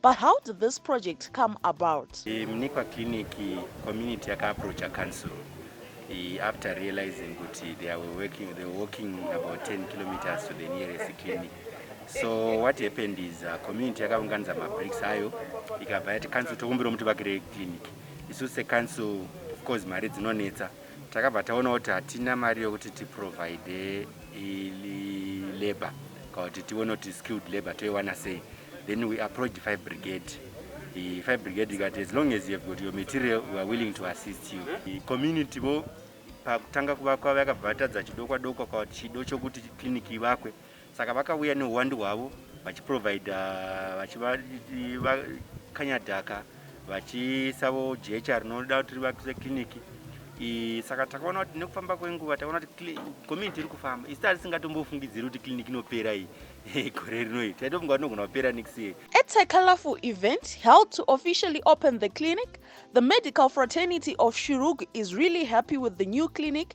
But how did this project come about? Eh, Mnikwa Clinic community yakaapproacha council eh, after realizing kuti they were working, they were walking about 10 kilometers to the nearest clinic. So what happened is uh, community yakaunganidza mabricks ayo ikabva yati council tokumbira muti vakire clinic. Isu secouncil of course mari dzinonetsa. Takabva taona kuti hatina mari yokuti tiprovide labour kana kuti tione kuti skilled labour toiwana sei then we approached five brigade the five brigade ikati as long as you have got your material we are willing to assist you the community vo pakutanga kuvakwa vakabva vatadza chidokwa dokwa kana kuti chido chokuti clinic ivakwe Saka vakauya nehuwandu hwavo vachiprovider vachivakanya dhaka vachisavo jecha rinoda kuti rivakise kiriniki iyi saka takaona kuti nekufamba kwenguva takaona kuti community iri kufamba isi tarisingatombofungidziri kuti kiriniki inopera iyi gore rino iyi taitofunga kuti inogona kupera next year At a colorful event held to officially open the clinic, the medical fraternity of Shurugu is really happy with the new clinic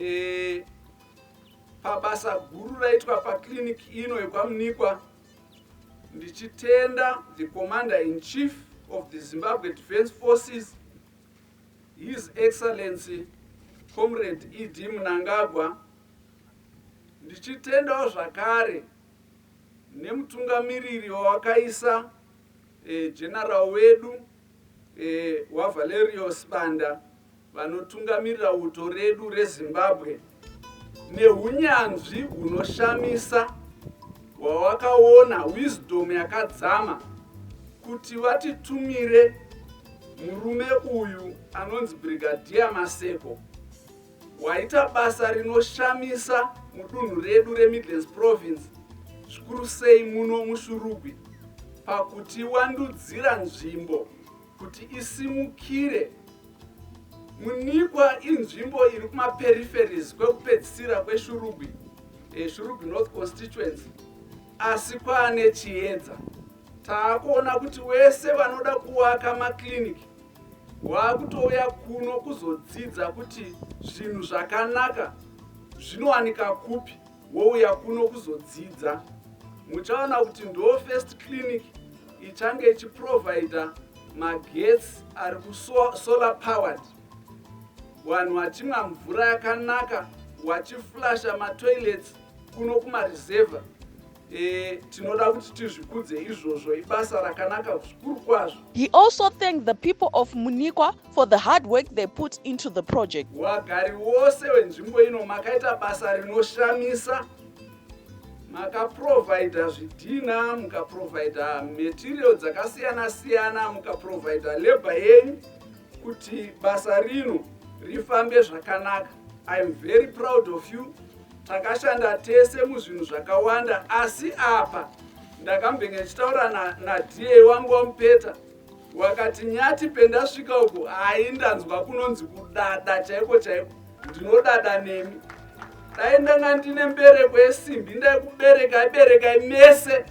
E, pabasa guru raitwa pakiriniki ino yekwamunikwa ndichitenda the commander in chief of the zimbabwe defence forces his excellency comrade ed munangagwa ndichitendawo zvakare nemutungamiriri wawakaisa e, general wedu VaValerio Sibanda vanotungamirira uto redu reZimbabwe nehunyanzvi hunoshamisa hwawakaona, wisdom yakadzama, kuti vatitumire murume uyu anonzi Brigadier Maseko. Waita basa rinoshamisa mudunhu redu reMidlands Province zvikuru sei muno muShurugwi pakuti wandudzira nzvimbo kuti isimukire Munikwa inzvimbo iri kumaperiferis kwekupedzisira kweShurugwi eh, Shurugwi North Constituency asi kwaane chiedza taakuona kuti wese vanoda kuwaka maclinic Waakutouya kuno kuzodzidza kuti zvinhu zvakanaka zvinowanika kupi wouya kuno kuzodzidza. Muchaona kuti ndo first clinic ichange ichiprovider magetsi ari kusolar powered vanhu vachimwa mvura yakanaka wachiflasha matoilets kuno kumareserva Eh, tinoda kuti tizvikudze izvozvo ibasa rakanaka zvikuru kwazvo he also thanked the people of munikwa for the hard work they put into the project wagari wose wenzvimbo ino makaita basa rinoshamisa makaprovhaidha zvidhina mukaprovhaidha material dzakasiyana siyana mukaprovhaidha labor yenyu kuti basa rino rifambe zvakanaka iam very proud of you Takashanda tese muzvinhu zvakawanda asi apa ndakambenge ndichitaura na, na DA wangu wamupeta wakati nyati pendasvika uku hai ndanzwa kunonzi kudada chaiko chaiko ndinodada nemi dai ndanga ndine mbereko yesimbi ndaikubereka iberekai mese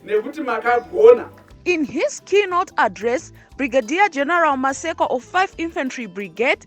nekuti makagona In his keynote address, Brigadier General Maseko of 5 Infantry Brigade,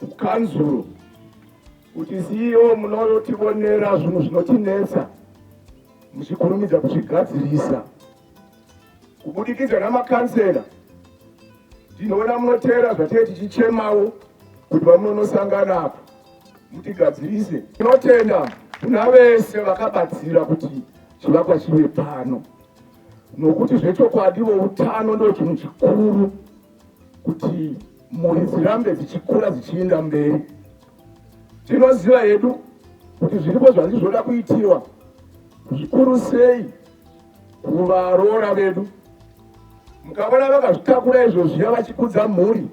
kukanzuru kuti CEO munoyotivonera zvinhu zvinotinetsa muchikurumidza kuzvigadzirisa kubudikidza namakansela tinoona munoteera zvatee tichichemawo kuti vamunonosangana apo mutigadzirise tinotenda kuna vese vakabatsira kuti chivakwa chive pano nokuti zvechokwadi voutano ndo chinhu chikuru kuti mhuri dzirambe dzichikura dzichiinda mberi tinoziva hedu kuti zviripo zvanzi zvoda kuitirwa zvikuru sei kuvaroora vedu mukavona vakazvitakura izvozviya vachikudza mhuri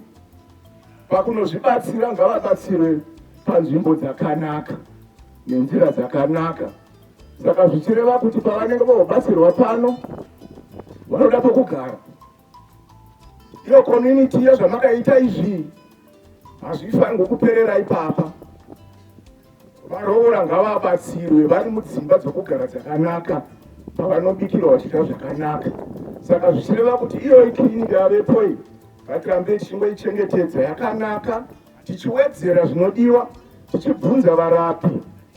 pakunozvibatsira ngavabatsire panzvimbo dzakanaka nenzira dzakanaka saka zvichireva kuti pavanenge vobatsirwa pano vanoda pokugara iyo community iyo zvamakaita izvi hazvifanirwe kuperera ipapa varoora ngavabatsirwe vari mudzimba dzokugara dzakanaka pavanobikirwa vachidya zvakanaka saka zvichireva kuti iyoyi kiriniki yavepo iyi ngatirambe tichingoichengetedza yakanaka tichiwedzera zvinodiwa tichibvunza varapi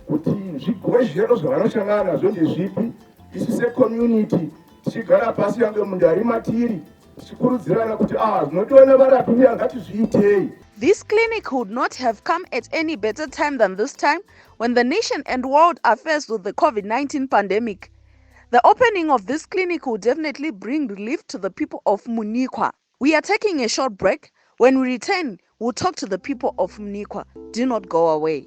kuti zvigwezhero zvavanoshangana nazvo ndezvipi isu secommunity tichigara pasi yange munda ari matiri tichikurudzirana kuti ah zvinotiona varapi uya ngatizviitei This clinic would not have come at any better time than this time when the nation and world are faced with the COVID 19 pandemic. The opening of this clinic will definitely bring relief to the people of Munikwa. We are taking a short break. When we return, we'll talk to the people of Munikwa. Do not go away.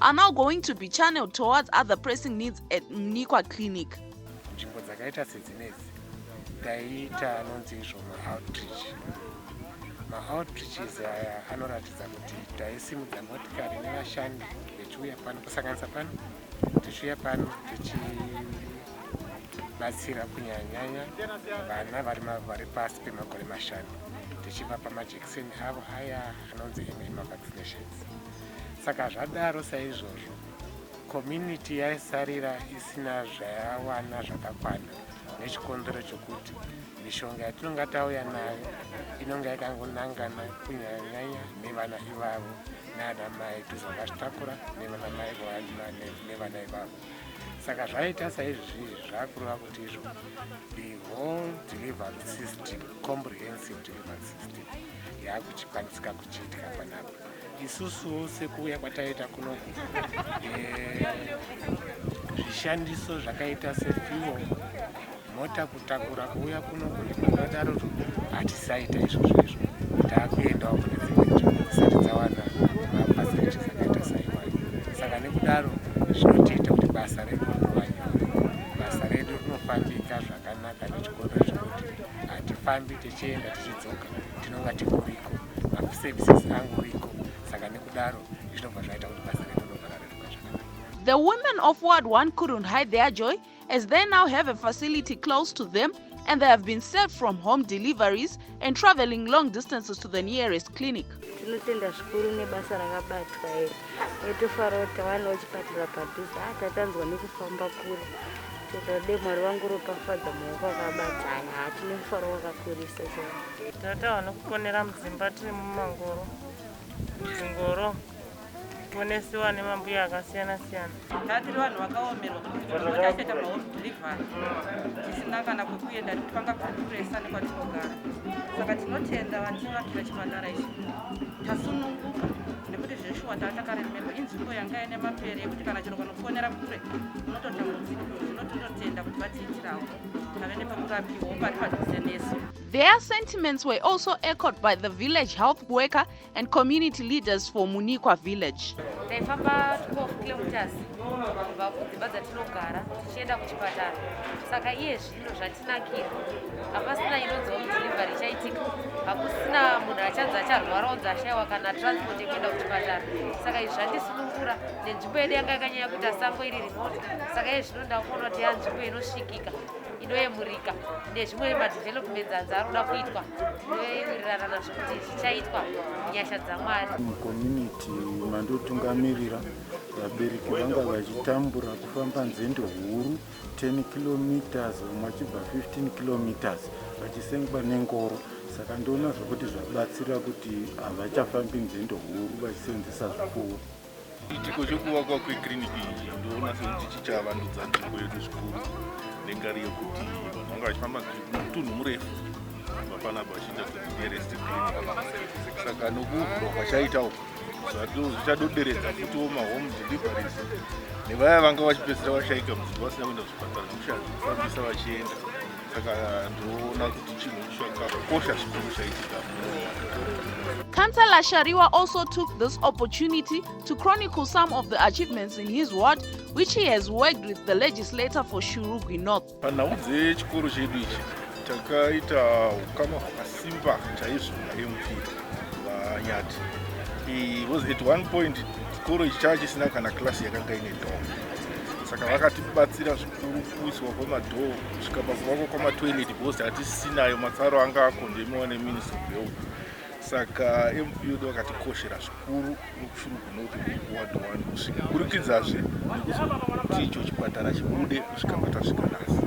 are now going to be channeled towards other pressing needs at mnikwa clinic nzvimbo dzakaita sedzinedzi taiita anonzi izvo maoutreach maoutreaches aya anoratidza kuti taisimudza motikari nevashandi vechiuya pano kusanganisa pano tichiuya pano tichibatsira kunyanyanya vana vari pasi pemakore mashanu tichivapa majekiseni avo aya anonzi mma vaccinations saka zvadaro saizvozvo community yaisarira isina zvayawana zvakakwana nechikonzero chokuti mishonga yatinonga tauya nayo inonga yakangonangana kunyanyanyanya nevana ivavo naana mai tizonga zvitakura nevana mai nevana ivavo saka zvaita saizvozvi zvakureva kuti izvo the whole delivery system comprehensive delivery system yaakuchikwanisika kuchiitika panapa isusu sekuuya kwataita kunoku eh, zvishandiso zvakaita sefiwo mota kutakura kuuya kunoku nekudadaro hatisaita izvozvo izvo taakuendawo kune dzimwe nzvimbo dzisati dzawana mafacilities akaita saiwayo saka nekudaro zvinotiita kuti basa redu rinovanyore basa redu rinofambika zvakanaka nechikondo zvekuti hatifambi tichienda tichidzoka tinonga tikurika maservices angu iko saka nekudaro zvinobva zvaita kuti basa redu ndobva rareruka zvakanaka The women of Ward 1 couldn't hide their joy as they now have a facility close to them and they have been saved from home deliveries and traveling long distances to the nearest clinic. tinotenda zvikuru nebasa rakabatwa iri etofara kuti tavanawo chipatara padhuze a tatanzwa nekufamba kure todade mwari vangu ropafadza maoko akabatana hatine mufaro wakakurisa chai Tata vanokuponera mudzimba tiri mumangoro dzingoro kuponesiwa nemambuya akasiyana siyana tatiri vanhu vakaomerwa kutiaita mahome delivery tisina kana kwekuenda nekuti vanga kukuresa nekwatinogara saka tinotenda vativatira chipatara ichi tasununguka nekuti zveshuwa taa takaremekwa inzvimbo yanga ine mapere yekuti kana chero kanofonera kure unototambudzika zvino tinotenda kuti vatiitirawo tave nepekurapiwa pari padhuze nesu Their sentiments were also echoed by the village health worker and community leaders for Munikwa village. Taifamba 12 kilometers kubva kudzimba dzatinogara tichienda kuchipatara saka iye zvino zvatinakira hapasina inonzi home delivery ichaitika hakusina munhu achanzi acharwara onzi ashaiwa kana transport yekuenda kuchipatara saka izvi zvandisunungura nenzvimbo yedu yanga yakanyanya kuita sango iri remote saka iye zvino ndakuona kuti yanzvimbo inosvikika inoyemurika nezvimwe madevelopments anzi ari kuda kuitwa tinoyemirirana nazvo kuti zvichaitwa nyasha dzamwari mucommunity mandotungamirira vabereki vanga vachitambura kufamba nzendo huru 10 kilometers vamwe vachibva 15 kilometers vachisengwa nengoro saka ndoona zvokuti zvabatsira kuti havachafambi nzendo huru vachiseenzesa zvipfuwo Chiitiko chekuvakwa kwekiriniki iyi ndoona sekuti chichavandudza nzvimbo yedu zvikuru nengari yekuti vanhu vanga vachifamba mutunhu murefu vapana vachiita kunerest saka nokuvhurwa kwachaita uku zvichadoderedza futiwo mahome deliveries nevaya vanga vachipedzisira vashaika muzvimbo vasina kuenda kuzvipatara nekushaya kufambisa vachienda saka ndoona kuti chinhu chakakosha chikuru chaitika Councillor Shariwa also took this opportunity to chronicle some of the achievements in his ward, which he has worked with the legislator for Shurugwi North. Panhau dzechikoro chedu ichi takaita ukama hwakasimba chaizvo naMP vaNyati. He was at one point chikoro ichi chava chisina kana klasi yakanga ine dhoo saka vakatibatsira zvikuru kuiswa kwemadhoo kusvika pakuvakwa kwamatoilet because hatisinayo matsaro anga akondemiwa neministry of health saka mud vakatikoshera zvikuru nokufurukunoti kuwadowani kusvika kurikidzazve nekuti icho chipatara chibude kusvika patasvika nasi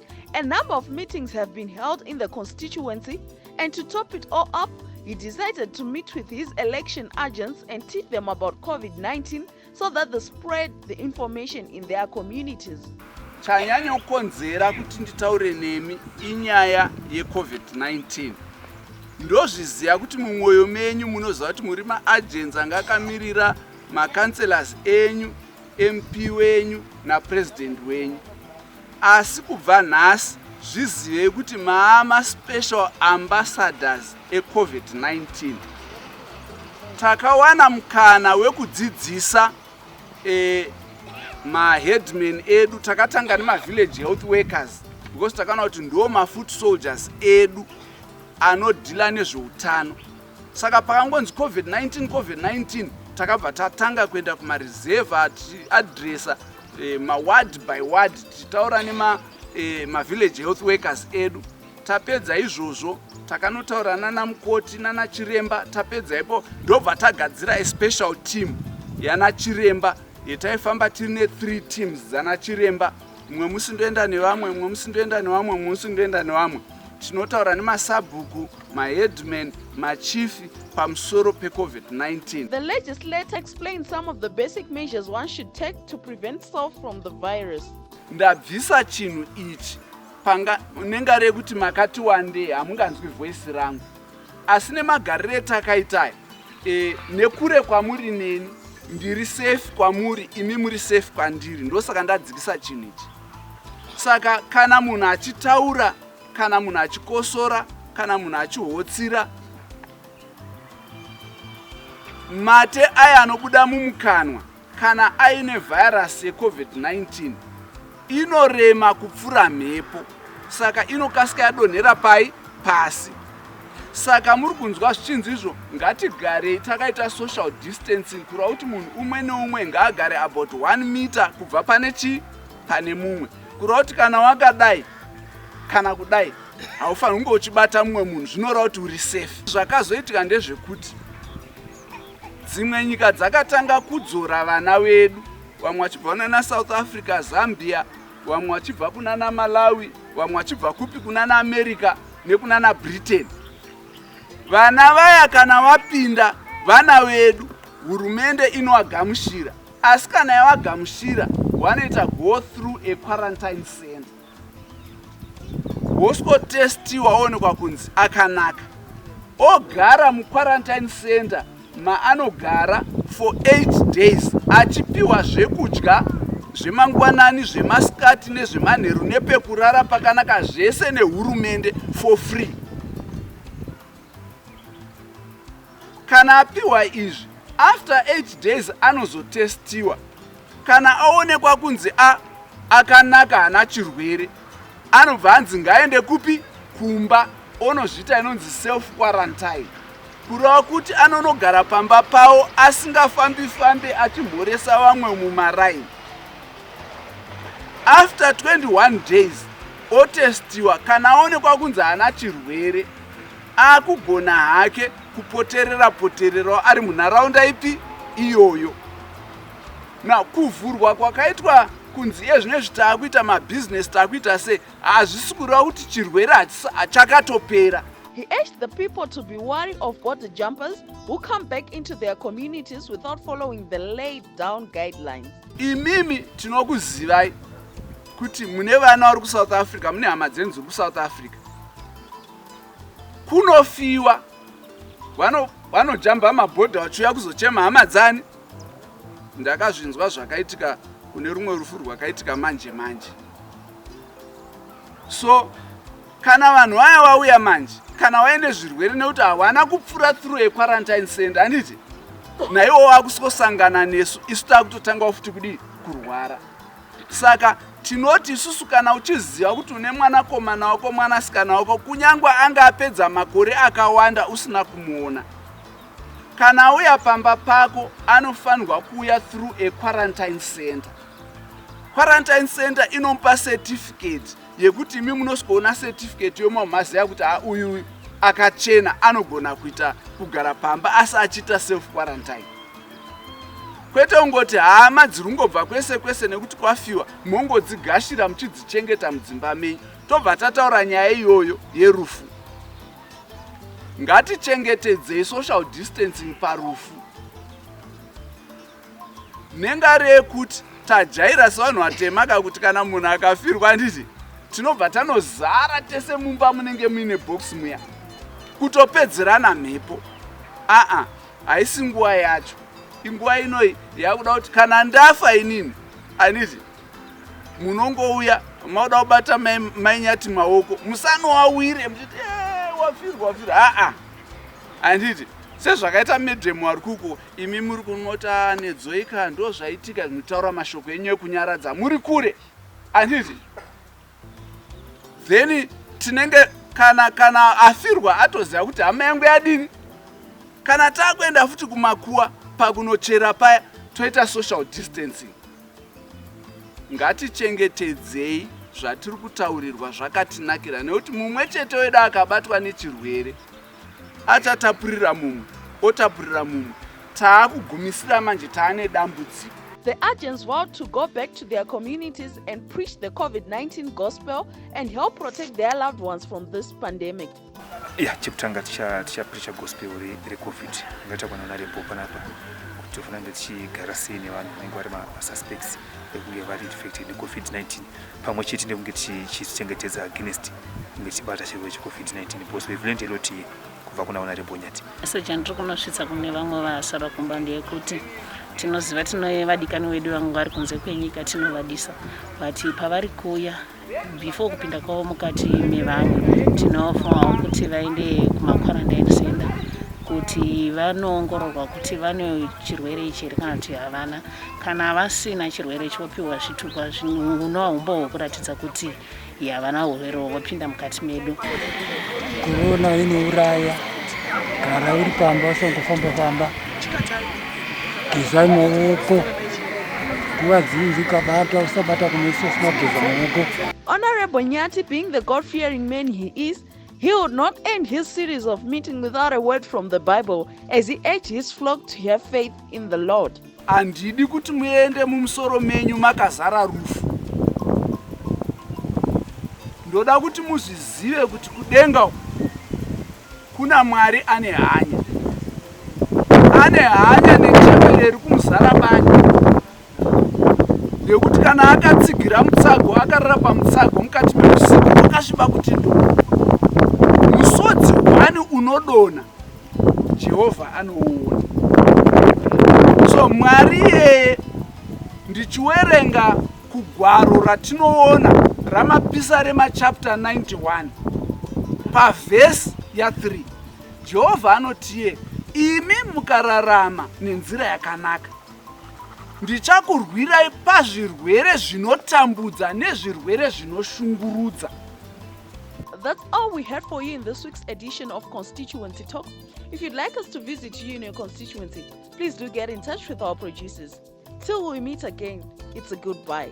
A number of meetings have been held in the constituency, and to top it all up, he decided to meet with his election agents and teach them about COVID 19 so that they spread the information in their communities. chanyanya kukonzera kuti nditaure nemi inyaya yecovid-19 ndozviziva kuti mumwoyo menyu munoziva kuti muri maagensi anga akamirira macancelors enyu mp wenyu napresident wenyu Asi kubva nhasi zvizivei kuti maama special ambassadors eCovid-19. Takawana mukana wekudzidzisa eh, maheadman edu takatanga nemavillage health workers because takaona kuti ndiwo mafoot soldiers edu anodhila nezveutano saka pakangonzi covid-19 covid-19 takabva tatanga kuenda kumarezeva tichiadresa eh, maward by ward tichitaura nemavillage eh, health workers edu tapedza izvozvo takanotaura nana mukoti nana chiremba tapedza ipo ndobva tagadzira a special team yana chiremba yetaifamba tiri ne three teams dzana chiremba mumwe musi ndoenda nevamwe mumwe musi ndoenda nevamwe mumwe musi ndoenda nevamwe tinotaura nemasabhuku maheadman, machief pamusoro peCovid-19. The legislator explained some of the basic measures one should take to prevent self from the virus. Ndabvisa chinhu ichi panga nenga rekuti makati wandei hamunganzwi voice rangu asi nemagariro etakaitaya e, nekure kwamuri neni ndiri safe kwamuri imi muri safe kwandiri ndosaka ndadzikisa chinhu ichi saka kana munhu achitaura kana munhu achikosora kana munhu achihotsira mate aya anobuda mumukanwa kana aine vhairasi yecovid-19 inorema kupfura mhepo saka inokasika yadonhera pai pasi saka muri kunzwa zvichinzi izvo ngatigarei takaita social distancing kureva kuti munhu umwe neumwe ngaagare about 1 meter kubva pane chii pane mumwe kureva kuti kana wakadai kana kudai haufaniri kunge uchibata mumwe munhu zvinoreva kuti uri safe zvakazoitika ndezvekuti dzimwe nyika dzakatanga kudzora vana vedu vamwe vachibva kunana south africa zambia vamwe vachibva kunana malawi vamwe vachibva kupi kunana america nekunana britain vana vaya kana vapinda vana vedu hurumende inovagamushira Asi kana yawagamushira wanoita go through a quarantine center woswotestiwa woonekwa kunzi akanaka ogara muquarantine center maanogara for 8 days achipiwa zvekudya zvemangwanani zvemasikati nezvemanheru nepekurara pakanaka zvese nehurumende for free Kana apiwa izvi, after 8 days anozotestiwa. Kana aonekwa kunzi a akanaka hana chirwere, anobva anzi ngaende kupi? Kumba onozviita inonzi self quarantine. Kureva kuti anonogara pamba pawo asingafambi fambi achimhoresa vamwe mumaraini. After 21 days otestiwa kana aonekwa kunzi hana chirwere Akugona hake kupoterera potererawo ari munharaunda ipi iyoyo. Na kuvhurwa kwakaitwa kunzi iye zvino izvi taakuita mabhizinesi taakuita sei hazvisi kureva kuti chirwere chakatopera. He urged the people to be wary of border jumpers who come back into their communities without following the laid down guidelines. Imimi tinokuzivai kuti mune vana vari kusouth africa mune hama dzenyu dziri kusouth africa kunofiwa vanojamba mabhodha vachiuya kuzochema hama dzani ndakazvinzwa zvakaitika kune rumwe rufu rwakaitika manje manje so kana vanhu vaya vauya manje kana vaine zvirwere nekuti havana kupfuura through equarantine center anditi naiwo wakusingosangana nesu isu takutotanga futi kudii kurwara Saka tinoti isusu kana uchiziva kuti une mwanakomana wako mwanasikana wako kunyange anga apedza makore akawanda usina kumuona kana auya pamba pako anofanirwa kuuya through a quarantine center quarantine center inomupa certificate yekuti imi munosikoona certificate yomamhaziva kuti ha uyu akachena anogona kuita kugara pamba asi achiita self quarantine kwete kungoti hama dziri kungobva kwese kwese nekuti kwafiwa mongodzigashira muchidzichengeta mudzimba menyu tobva tataura nyaya iyoyo yerufu ngatichengetedzei social distancing parufu nengari yekuti tajaira sevanhu vatema ka kuti kana munhu akafirwa handiti tinobva tanozara tese mumba munenge muine box muya kutopedzerana mhepo aa haisi nguva yacho inguva inoi yakuda kuti kana ndafa inini aniti munongouya makuda kubata mainyati maoko musanowawire muchiti eh, wafirwa wafirwa haa anditi sezvakaita medhemu ari kuko imi muri kunota nedzoika ndo zvaitika zvinotaura mashoko enyu ekunyaradza muri kure anditi then tinenge kana kana afirwa atoziva kuti hama yangu yadini kana takuenda futi kumakuwa pakunochera paya toita social distancing ngatichengetedzei zvatiri kutaurirwa zvakatinakira nekuti mumwe chete wedu akabatwa nechirwere achatapurira mumwe otapurira mumwe taakugumisira manje taane dambudziko They urged vow to go back to their communities and preach the COVID 19 gospel and help protect their loved ones from this pandemic. Yeah, chekutanga tichapreacha gospel recovid ngaita kwana narembo panapa kuti tofanira kunge tichigara sei nevanhu vanenge vari masuspects ekunge vari infected necovid 19 pamwe chete nekunge tichizvichengetedza against kunge tichibata chirwere checovid-19 because we've learned a lot here kubva kuna vana rebonyati so chandiri kunosvitsa kune vamwe vasara kumba ndeyekuti tinoziva tine vadikani wedu vamwe vari kunze kwenyika tinovadisa but pavari kuuya before kupinda kwavo mukati mevamwe tinofomawo kuti vaende kumaquarantine center kuti vanoongororwa kuti vane chirwere ichi here kana kuti havana Kana vasina chirwere chopiwa zvitupa zvinonwa humbo hwekuratidza kuti havana urwere hwopinda mukati medu. Korona inouraya. Gara uri pamba usangofamba famba. Geza maoko. Nguva dzinji ukabata usabata kumeso usina kugeza maoko. Honorable Nyati being the God fearing man he is He would not end his series of meeting without a word from the Bible as he urged his flock to have faith in the Lord. Handidi kuti muende mumusoro menyu makazara rufu. Ndoda kuti muzvizive kuti kudenga kuna Mwari ane hanya. Ane hanya nechembere iri kumuzara bani. nekuti kana akatsigira mutsago akarara pamutsago mukati meusiku wakasviba kuti ndo musodzi hwani unodona jehovha anouona so mwari iyeye ndichiwerenga kugwaro ratinoona ramapisa remachapter 91 pavhesi ya3 jehovha anotiye imi mukararama nenzira yakanaka Ndichakurwirai pazvirwere zvinotambudza nezvirwere zvinoshungurudza. That's all we had for you in this week's edition of Constituency Talk. If you'd like us to visit you in your constituency, please do get in touch with our producers. Till we meet again, it's a goodbye.